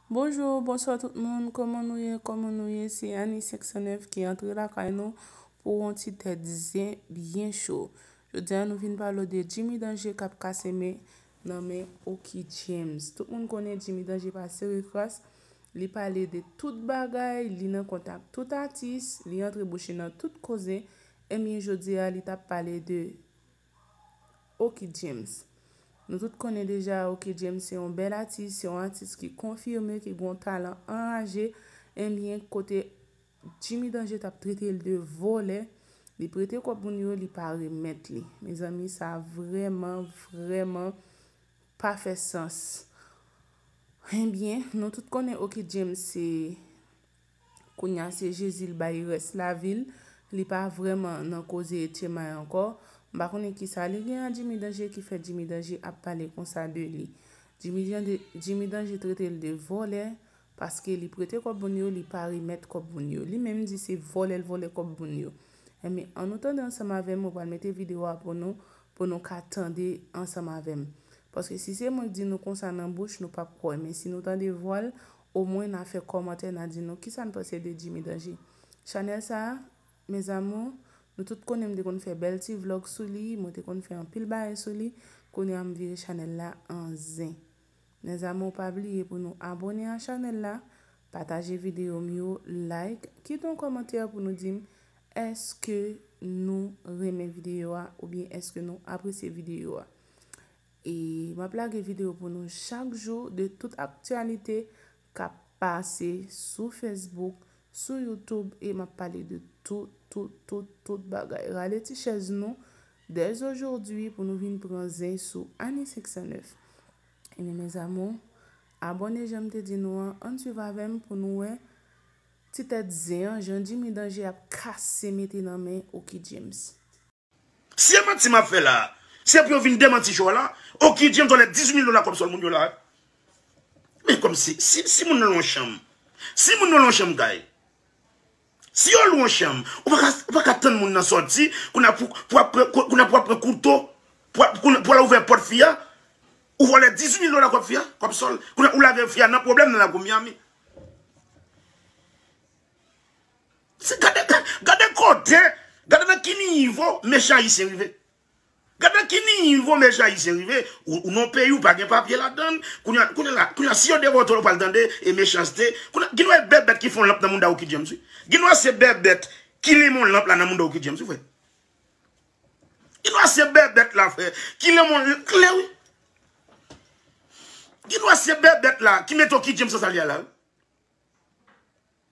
Bonjour bonswa tout moun koman nou ye koman nou ye se Annie 509 ki antre lakay nou pou yon ti tèt zen byen cho jodi a nou vin pale de Jimmy Danger kap kase men nan men Oky James tout moun konnen Jimmy Danger pa sere kras li pale de tout bagay li nan kontak tout atis li antre bouche nan tout koze ebyen jodi a li tap pale de Oky James Nou tout konnen deja Oky James se yon bèl atis, se yon atis ki konfime ki gen yon talan anraje Enbyen kote Jimmy Danger t ap trete l de vòlè Li prete kòb moun yo li pa remèt li Mezanmi sa vrèman vrèman pa fè sans Enbyen nou tout konnen Oky James se Kounya se Jezi l bay rès lavi l, li pa vrèman nan koze Etchemay ankò, m pa konnen kisa li gen a Jimmy Danje ki fè Jimmy Danje ap pale konsa de li. Jimmy Danje Jimmy Danje trete l de vòlè paske li prete kòb moun yo li pa remèt kòb moun yo. Li menm di se vòlè l vòlè kòb moun yo. Enben an nou tande ansanm avè m mwen pral mete video a pou nou pou nou ka tande ansanm avè m. Paske si se mwen k di nou konsa nan bouch nou p ap kwè men si nou tande vwa l O mwen na fè kòmantè na di nou kisa n panse de Jimmy Danger. Chanèl sa a, mes amours, nou tout konnen m te konn fè bèl ti vlog sou li, mwen te konn fè anpil bagay sou li, kounye a m vire chanèl la an zen. Mes amours pa bliye pou nou abone a chanèl la, pataje videyo m yo, like, kite yon kòmantè pou nou di m èske nou renmen videyo a oubyen èske nou apresye videyo a. E map lage video pou nou chak jou de tout aktyalite kap pase sou Facebook, sou YouTube e map pale de tout tout tout tout bagay. Rale ti chèz nou dès aujourd'hui pou nou vin pran zen sou Annie 509. Ebyen mes amours, abòne janm te di nou an, ann swiv avèm pou nou wè ti tèt zen an jan Jimmy Danger ap kase mete nan men Oky James. Si e manti map fè la a, se pou yo vin demanti show a la. Oky James vòlè 18 mil dola kòb sòl moun yo la a. Men kòm si, si moun nan lwen chanm, si moun nan lwen chanm kay, si yo lwen chanm, ou pa ka, ou pa ka tann moun nan sòti, kou na pou, pou ap pran, kou na pou ap pran kouto, pou ap, pou al ouvè pòt fi a, ou vòlè 18 mil dola kòb fi a, kòb sòl, kou na ou lage fi a nan pwoblèm nan lakou Miami. Gade kote, gade nan ki nivo mechan ayisyen rive. Gade nan ki nivo mechan ayisyen rive, ou nan peyi ou pa gen papye ladan, kounye la, kounye la, si yo depote w ou pral tande e mechanste, kounye la, ginwa e bèbèt ki fon lanp nan mouda ou ki James wi, ginwa se bèbèt ki limon lanp la nan mouda ou ki James wi frè. Ginwa se bèbèt la frè, ki limon lanp klè wi. Ginwa se bèbèt la ki mete w ki James san sa li a la wi.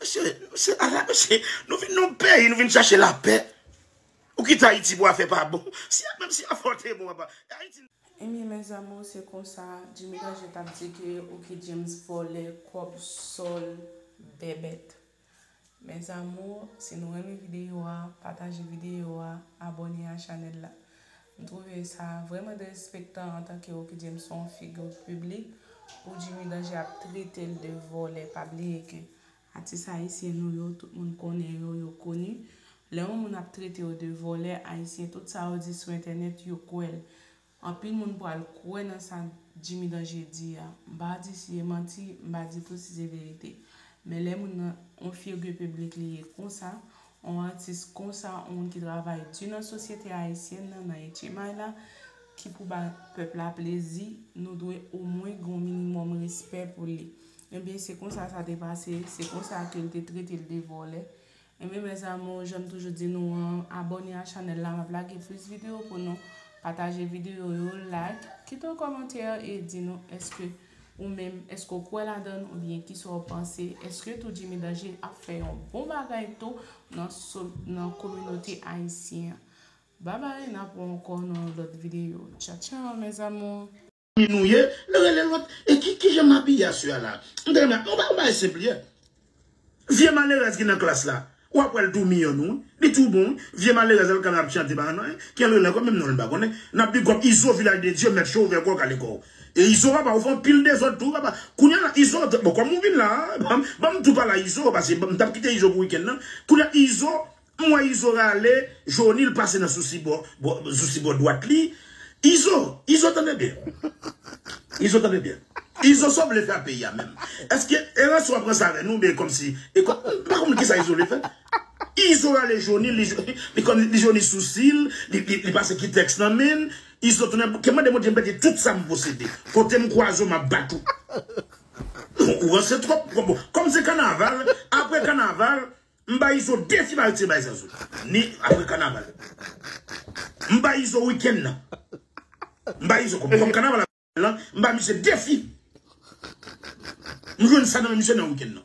Mesye, se ala mesye, nou vin nan yon peyi, nou vin chache lapè. Ou kite Ayiti pou afè pa bon. Si a menm si afè w te bon apa. E Ayiti n. Ebyen mes amours se konsa Jimmy Danje tap di ke ok James vòlè kòb sol bèbèt mes amours si nou renmen video a pataje video a abòne a chanèl la M trouve sa vreman derespektan antanke Rockydie m son figure public pou Jimmy Danger ap trete l de vòlè pa bliye ke atis ayisyen nou yo tout moun konnen yo yo koni lè yon moun ap trete yo de vòlè ayisyen tout sa yo di sou entènèt yo kwè l anpil moun pral kwè nan sa Jimmy Danger di a m pa di si e manti m pa di tou si se verite men lè moun nan yon figure public li ye konsa On atis konsa, on moun ki travay di nan sosyete ayisyèn nan, nan etchemay la, ki pou ba pèp la plezi, nou dwe omwen gen on minimòm respè pou li. Enben, se konsa sa te pase, se konsa ke l te trete l de vòlè. Enben mes amours, jan m toujou di nou an, abòne a chanèl la, m ap lage plis videyo pou nou, pataje videyo yo, like, kite on kòmantè e di nou èske Ou menm, èske w kwè ladan l oubyen ki sa w panse? Èske tou Jimmy Danje ap fè yon bon bagay tou nan nan kominote ayisyen an? Babay, n ap wè w ankò nan yon lòt videyo. Tcha tchaw mes amours! Ki nou ye, lè rele lòt, e ki kijan m abiye aswè a la? M ta renmen, m ta renmen yon bagay senp li e. Vye malerèz ki nan klas la ou ap wèl tou miyò nou wi li tou bon wi vye malerèz al kanal ap chante pa nan kel rele ankò menm nonl mpa konnen nap bigòp izo vilaj de dye mèt cho ouvè kòw kale kòw e izo papa ou fè anpil dezòd tou papa kounya la izo bon kòm ou vin la banm tou pala izo pase mtap kite izo pou wikenn nan kounya izo M wè izo rale joni l pase nan sousi bò zousi bò dwat li izo izo tande byen izo tande byen izo sa w vle fè a peyi a menm eske eransi wap ranse avè nou oubyen kòmsi e kò m pa konprann kisa izo vle fè izo rale joni li li kò li joni sousi l li pase kitèks nan men l izo tounen bouke mande bondye m pèdi tout sa m posede kote m kwaze w map bat ou ou ranse twòp kòm se kanaval aprè kanaval. M bay izo 2 ti bal tir bay zazou ni apre kanaval m bay izo weekend nan m bay izo kòm kòm kanaval lan m bay misye defi m jwenn sa nan men misye nan weekend nan.